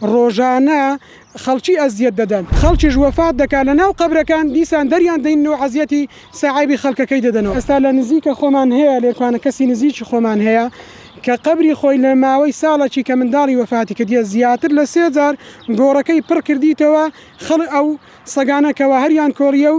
ڕۆژانە خەڵکی ئەزیەت دەدەن خەڵکیش وەفات دەکات لەناو قەبرەکان دیسان دەریان دەین و عەزیەتی سەعێبی خەڵکەکەی دەدەنەوە ئێستا لە نزیکە خۆمان هەیە لێرکوانە کەسی نزیکی خۆمان هەیە کە قەبری خۆی لە ماوەی ساڵەکی کە منداڵی وەفاتی کردیە زیاتر لە سێ جار گۆڕەکەی پڕ کردیتەوە خەڵ ئەو سەگانە کەوا هەریان کۆڵیە و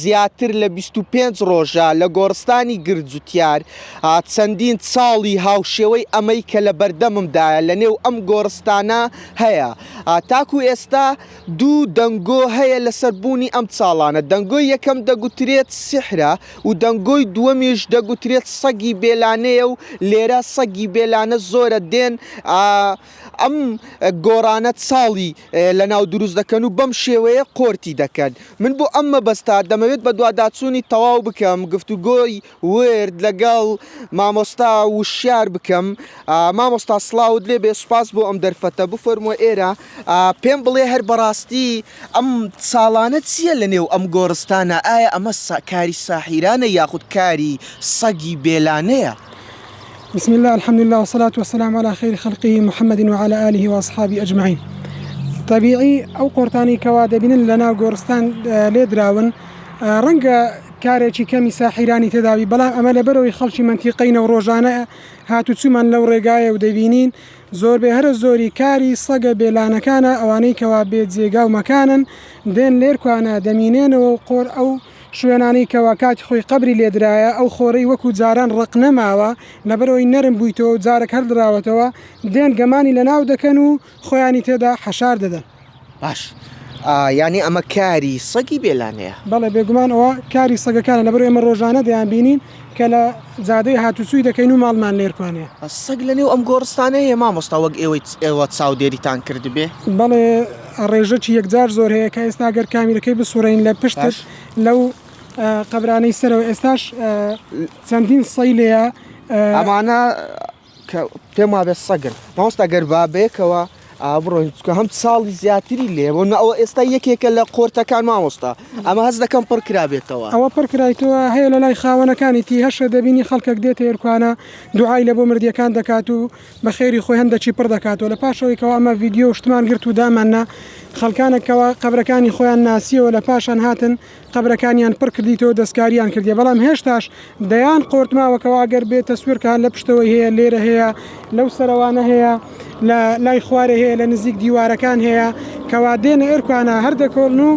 زیاتر لە بیست و پێنج ڕۆژە لە گۆڕستانی گرجوتیار، چەندین چاڵی هاوشێوەی ئەمەی کە لە بەردەممدایە لە نێو ئەم گۆڕستانە هەیە. تاکوو ئێستا دوو دەنگۆ هەیە لەسەر بوونی ئەم چاڵانە، دەنگۆی یەکەم دەگوترێت سیحرە و دەنگۆی دووەمیش دەگوترێت سەگی بێلانەیە و لێرە سەگی بێلانە زۆرە دێن، ئەم گۆڕانەت ساڵی لەناو دروست دەکەن و بەم شێوەیە قۆرتی دەکەن من بۆ ئەم مەبەستا دەمەوێت بە دواداچوونی تەواو بکەم گفتوگۆی ورد لەگەڵ مامۆستا وشیار بکەم مامۆستا سڵاوت لێ بێ سوپاس بۆ ئەم دەرفەتە بفەرموە ئێرە پێم بڵێ هەر بەڕاستی ئەم ساڵانە چییە لە نێو ئەم گۆڕستانە ئایا ئەمە کاری ساحیرانە یاخود کاری سەگی بێلانەیە؟ بسم اللە الحمد اللە والصلاة والسلام علی خیر خلقه محمد وعلی آله واصحابه اجمعین طبیعی ئەو قۆرتانی کەوا دەبینن لە ناو گۆرستان لێدراون ڕەنگە کارێکی کەمی ساحیرانی تێداوی بەڵام ئەمە لە بەرەوەی خەڵکی منتیقینە و ڕۆژانە هاتوچومان لەو ڕێگایە و دەبینین زۆربێ هەرە زۆری کاری سەگە بێلانەکانە ئەوانەی کەوا بێ جێگا و مەکانن دێن لێرکوانە دەمینێنەوە و قۆر ئەو شوێنانەی کەوا کاتی خۆی قەبری لێ درایە ئەو خۆرەی وەکو جاران ڕەق نەماوە لەبەرئەوەی نەرم بویتەوە و جارەک هەر دراوەتەوە دێن گەمانی لەناو دەکەن و خۆیانی تێدا حەشار دەدەن. باش یانی ئەمە کاری سەگی بێلانەیە؟ بەڵێ بێگومان ئەوە کاری سەگەکانە لەبەرئەوەی ئێمە ڕۆژانە دەیانبینین. کە لە جادەی هاتوچوی دەکەین و ماڵمان لێرکوانێ. سەگ لە نێو ئەم گۆڕستانە هەیە مامۆستا وەک ئێوەی ئێوە چاودێریتان کردبێ؟ بەڵێ ڕێژەکی یەکجار زۆر هەیە کە ئێستا گەر کامیرەکەی بسوڕێین لە پشتت لەو قەبرانەی سەرەوە ئێستاش چەندین سەی لێیە ئەمانە کە پێم وابێت سەگن مامۆستا گەر با بەیەکەوە ئا بڕۆین چکە هەم ساڵی زیاتری لێ بۆ نە ئەوە ئێستا یەکێکە لە قۆرتەکان مامۆستا ئەمە هەز دەکەم پڕ کرابێتەوە ئەوە پڕ کرایتەوە هەیە لە لای خاوەنەکانی تی هەشە دەبینی خەڵکەک دێتە ئێرکوانە دوعای لە بۆ مردیەکان دەکات و بە خێری خۆی هەندەچی پڕ دەکاتەوە لە پاشەوەی کەوا ئەمە ڤیدیۆ شتمان گرت و داماننا خەڵکانە کەوا قەبرەکانی خۆیان ناسیەوە لە پاشان هاتن قەبرەکانیان پڕ کردیتەوە دەستکاریان کردیە بەڵام هێشتاش دەیان قۆرت ماوەکەوە ئەگەر بێ تەسویرکە هەر لە پشتەوەی هەیە لێرە هەیە لەو سەرەوانە هەیە لە لای خوارێ هەیە لە نزیک دیوارەکان هەیە کەوا دێنە ئێرکانە هەر دەکۆڵن و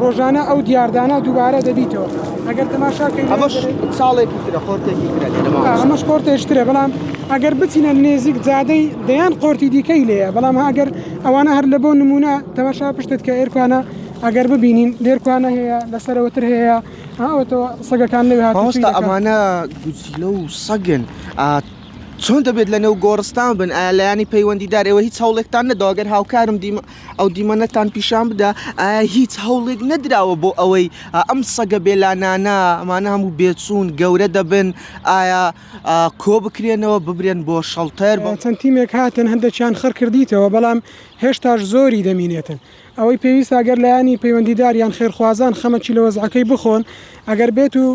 ڕۆژانە ئەو دیاردانە دووبارە دەبیتەوە ئەگەر تەماشاکەین ئەمەش ساڵێکی ترە قۆرتێکی ترە لێرە ماوە. ئا، ئەمەش قۆرتێش ترە بەڵام ئەگەر بچینە نێزیک جادەی دەیان قۆرتی دیکەی لێیە بەڵام ئەگەر ئەوانە هەر لە بۆ نمونە تەماشا پشتت کە ئێرکانە ئەگەر ببینین لێرکوانە هەیە لەسەرەوەتر هەیە ئەوەتەوە سەگەکان لەوێ هاتۆستا ئەمانە گوچیلە و سەگن چۆن دەبێت لە نێو گۆڕستان بن ئایا لایانی پەیوەندیدار ئەوە هیچ هەوڵێکتان نەداگەر هاوکارم دیمە ئەو دیمەنەتان پیشان بدا ئایا هیچ هەوڵێک نەدراوە بۆ ئەوەی ئەم سەگە بێلانانە ئەمانە هەموو بێچوون گەورە دەبن ئایا کۆ بکرێنەوە ببرێن بۆ شەڵتەر بۆ چەند تیمێک هاتن هەندێکیان خڕکردیتەوە بەڵام هێشتاش زۆری دەمینێتن ئەوەی پێویستە ئەگەر لایەنی پەیوەندیدار یان خێرخوازان خەمەکی لە وەزعەکەی بخۆن ئەگەر بێت و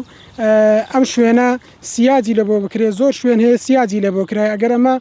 ئەم شوێنە سیاجی لە بۆ بکرێت زۆر شوێن هەیە سیاجی لە بۆ کرای ئەگەر ئەمە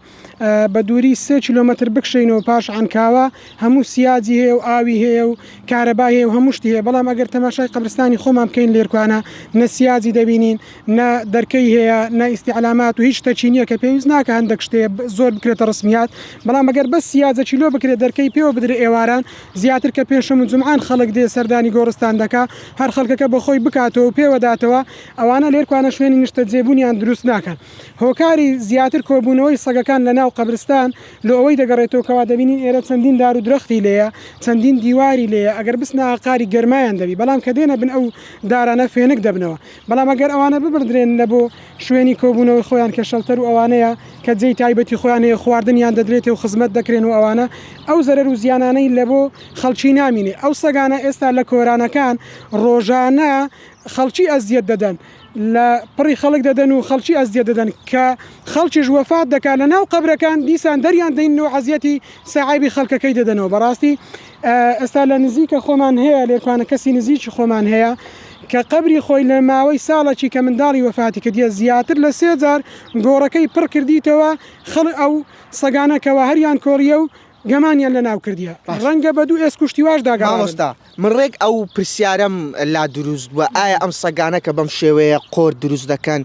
بە دووری سێ کیلومتر بکشینەوە پاش عەنکاوە هەموو سیاجی هەیە و ئاوی هەیە و کارەبای هەیە و هەموو شتی هەیە بەڵام ئەگەر تەماشای قەبرستانی خۆمان بکەین لێرکوانە نە سیاجی دەبینین نە دەرکەی هەیە نە ئیستیعلامات و هیچ شتەکی نییە کە پێویست ناکە هەندێک شتێ زۆر بکرێتە ڕسمیات بەڵام ئەگەر بەس سیاجەکی لۆ بکرێت دەرکەی پێوە بدرێ ئێواران زیاتر کە پێنجشەم و جومعان خەڵک دێ سەردانی گۆڕستان دەکا هەر خەڵکەکە بە خۆی بکاتەوە و پێوە داتەوە ئەوانە لێرکوانە شوێنی نیشتەجێبوونیان دروست ناکەن هۆکاری زیاتر کۆبوونەوەی سەگەکان لە ناو قەبرستان لۆ ئەوەی دەگەڕێتەوە کەوا دەبینین ئێرە چەندین دار و درەختی لێیە چەندین دیواری لێیە ئەگەر بچنە ئاقاری گەرمایان دەبی بەڵام کە دێنە بن ئەو دارانە فێنک دەبنەوە بەڵام ئەگەر ئەوانە ببردرێن لە بۆ شوێنی کۆبوونەوەی خۆیان کە شەڵتەر و ئەوانەیە کە جێی تایبەتی خۆیان هەیە خواردنیان دەدرێتێ و خزمەت دەکرێن و ئەوانە ئەو زەرەر و زیانانەی لە بۆ خەڵکی نامینێ ئەو سەگانە ئێستا لە کۆرانەکان ڕۆژانە خەڵکی ئەزیەت دەدەن لە پڕی خەڵک دەدەن و خەڵکی ئەزیەت دەدەن کە خەڵکیش وەفات دەکات لە ناو قەبرەکان دیسان دەریان دەین و عەزیەتی سەعێبی خەڵکەکەی دەدەنەوە بەڕاستی ئێستا لە نزیکە خۆمان هەیە لێرکوانە کەسی نزیکی خۆمان هەیە کە قەبری خۆی لە ماوەی ساڵەکی کە منداڵی وەفاتی کردیە زیاتر لە سێ جار گۆڕەکەی پڕ کردیتەوە خەڵ ئەو سەگانە کەوا هەریان کۆڵیە و گەمانیان لە ناو کردیە ڕەنگە بە دوو ئێسک و شتیواش دا گەڕابن. مامۆستا من ڕێک ئەو پرسیارەم لا دروست بووە ئایا ئەم سەگانە کە بەم شێوەیە قۆر دروست دەکەن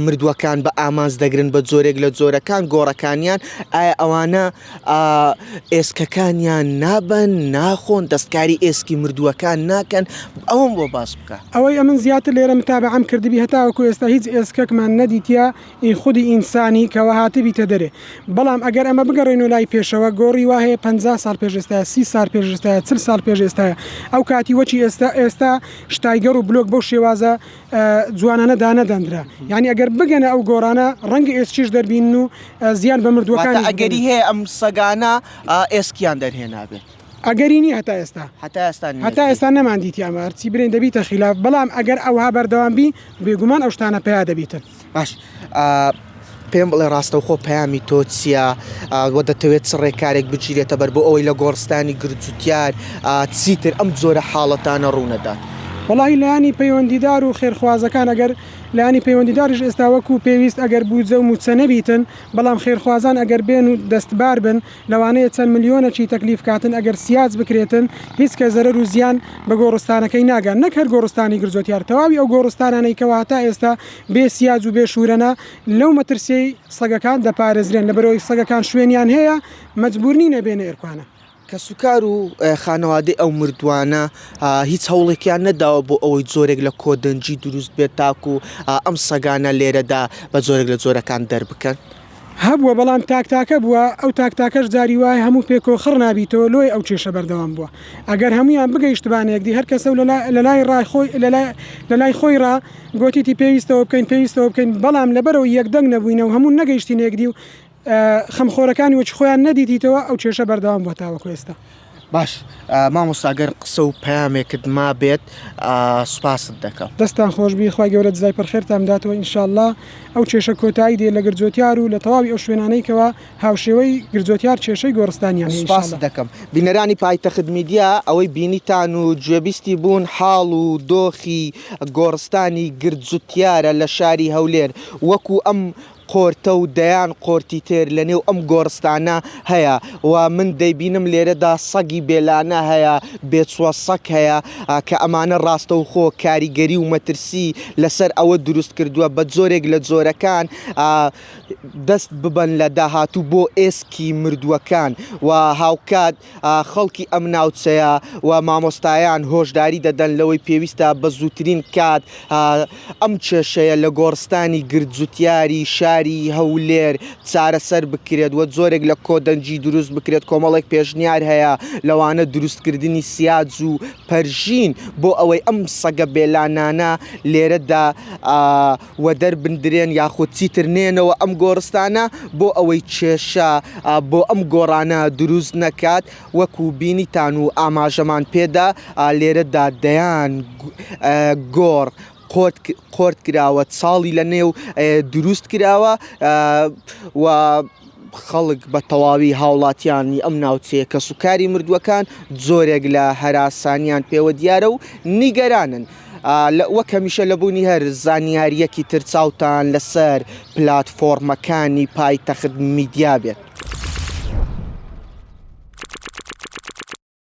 مردووەکان بە ئامانج دەگرن بە جۆرێک لە جۆرەکان گۆڕەکانیان ئایا ئەوانە ئا ئێسکەکانیان نابەن، ناخۆن، دەستکاری ئێسکی مردووەکان ناکەن، ئەوەم بۆ باس بکە. ئەوەی ئەمن زیاتر لێرە متابەعەم کردبی هەتاوەکو ئێستا هیچ ئێسکەکمان نەدیتیە ئی خودی ئینسانی کەوا هاتبیتە دەرێ بەڵام ئەگەر ئەمە بگەڕێینۆ لای پێشەوە گۆڕی وا هەیە پەنجا ساڵ پێش ئێستایە سی سار پێش ئێستایە چل ساڵ پێش ئێستایە ئەو کاتی وەکی ئێستا ئێستا شتایگەڕ و بلۆک بەو شێوازە جوانانە دانەدەندرا یعنی ئەگەر بگەنە ئەو گۆڕانە ڕەنگە ئێسکیش دەربین و زیان بە مردووەکان ئەگەری هەیە ئەم سەگانە ئێسکیان دەرهێنابێت ئەگەرینی هەتا ئێستا هەتا ئێستا هەتا ئێستا نەماندیتیانمارچی برێن دەبیتە خلاف بەڵام ئەگەر ئەوها بەردەوام بی بێگومان ئەو شتانە پیا دەبیتن باش ئا پێم بڵێ ڕاستەوخۆ پەیامی تۆ چییە؟ ئا وە دەتەوێت چ ڕێکارێک بگیرێتە بەر بۆ ئەوەی لە گۆڕستانی گرجوتیار ئا چیتر ئەم جۆرە حاڵەتانە ڕوو نەدات؟ وەڵاهی لایەنی پەیوەندیدار و خێرخوازەکان ئەگەر لایەنی پەیوەندیداریش ئێستا وەکوو پێویست ئەگەر بوودجە و مووچە نەبیتن بەڵام خێرخوازان ئەگەر بێن و دەستبار بن لەوانەیە چەند ملیۆنەکی تەکلیف کاتن ئەگەر سیاج بکرێتن هیچ کەس زەرەر و زیان بە گۆڕستانەکەی ناگات نەک هەر گۆڕستانی گرجۆتیار تەواوی ئەو گۆڕستانانەی کەوا هەتا ئێستا بێ سیاج و بێ شورەنە لەو مەترسیەی سەگەکان دەپارێزرێن لەبەرئەوەی سەگەکان شوێنیان هەیە مەجبور نینە بێنە ئێرکوانە. کەسوکار و خانەوادەی ئەو مردوانە هیچ هەوڵێکیان نەداوە بۆ ئەوەی جۆرێک لە کۆدەنگی دروست بێت تاکو ئەم سەگانە لێرەدا بە جۆرێک لە جۆرەکان دەربکەن؟ هەبووە بەڵام تاک تاکە بووە ئەو تاک تاکەش جاری وایە هەموو پێ کۆ خڕ نابیتەوە لۆیە ئەو کێشە بەردەوام بووە ئەگەر هەموویان بگەیشتبانە یەکدی هەر کەسە و لە لە لای ڕای خۆی لە لای لە لای خۆی ڕا گۆتیتی پێویستەوە بکەین پێویستەوە بکەین بەڵام لەبەرەوە یەک دەنگ نەبووینە و هەموو نەگەیشتینە یەکدی و خەمخۆرەکانی وەکی خۆیان نەدیتیتەوە ئەو کێشە بەردەوام بووە تاوەکو ئێستا. باش مامۆستا گەر قسە و پەیامێکت مابێت سوپاست دەکەم. دەستتان خۆشبی خوای گەورە جزای پر خێرتان بداتەوە ان شاء اللە ئەو کێشە کۆتایی دێ لە گرجۆتیار و لە تەواوی ئەو شوێنانەی کەوا هاوشێوەی گرجۆتیار کێشەی گۆڕستانیان هەیە ان شاء اللە. سوپاست دەکەم بینەرانی پایتەخت میدیا ئەوەی بینیتان و گوێبیستی بوون حاڵ و دۆخی گۆڕستانی گرجوتیارە لە شاری هەولێر وەکو ئەم قۆرتە و دەیان قۆرتی تر لە نێو ئەم گۆڕستانە هەیە و من دەیبینم لێرەدا سەگی بێلانە هەیە، بێچووە سەگ هەیە کە ئەمانە ڕاستەوخۆ کاریگەری و مەترسی لە سەر ئەوە دروست کردووە بە جۆرێک لە جۆرەکان دەست ببەن لە داهاتوو بۆ ئێسکی مردووەکان و هاوکات خەڵکی ئەم ناوچەیە و مامۆستایان هۆشداری دەدەن لەوەی پێویستە بە زووترین کات ئەم کێشەیە لە گۆڕستانی گردجوتیاری شاری هەولێر چارەسەر بکرێت و جۆرێک لە کۆدەنگی دروست بکرێت کۆمەڵێک پێشنیار هەیە لەوانە دروستکردنی سیاج و پەرژین بۆ ئەوەی ئەم سەگە بێلانانە لێرەدا و دەربندرێن یاخود چیتر نێنەوە ئەم گۆڕستانە بۆ ئەوەی کێشە بۆ ئەم گۆڕانە دروست نەکات وەکو بینیتان و ئاماژەمان پێدا لێرەدا دەیان گۆڕ قۆرت کراوە چاڵی لە نێو دروست کراوە و خەڵک بە تەواوی هاوڵاتیانی ئەم ناوچەیە کەسوکاری مردووەکان جۆرێک لە هەراسانیان پێوە دیارە و نیگەرانن وەک هەمیشە لە بوونی هەر زانیاریەکی تر چاوتان لەسەر پلاتفۆرمەکانی پایتەخت میدیا بێت.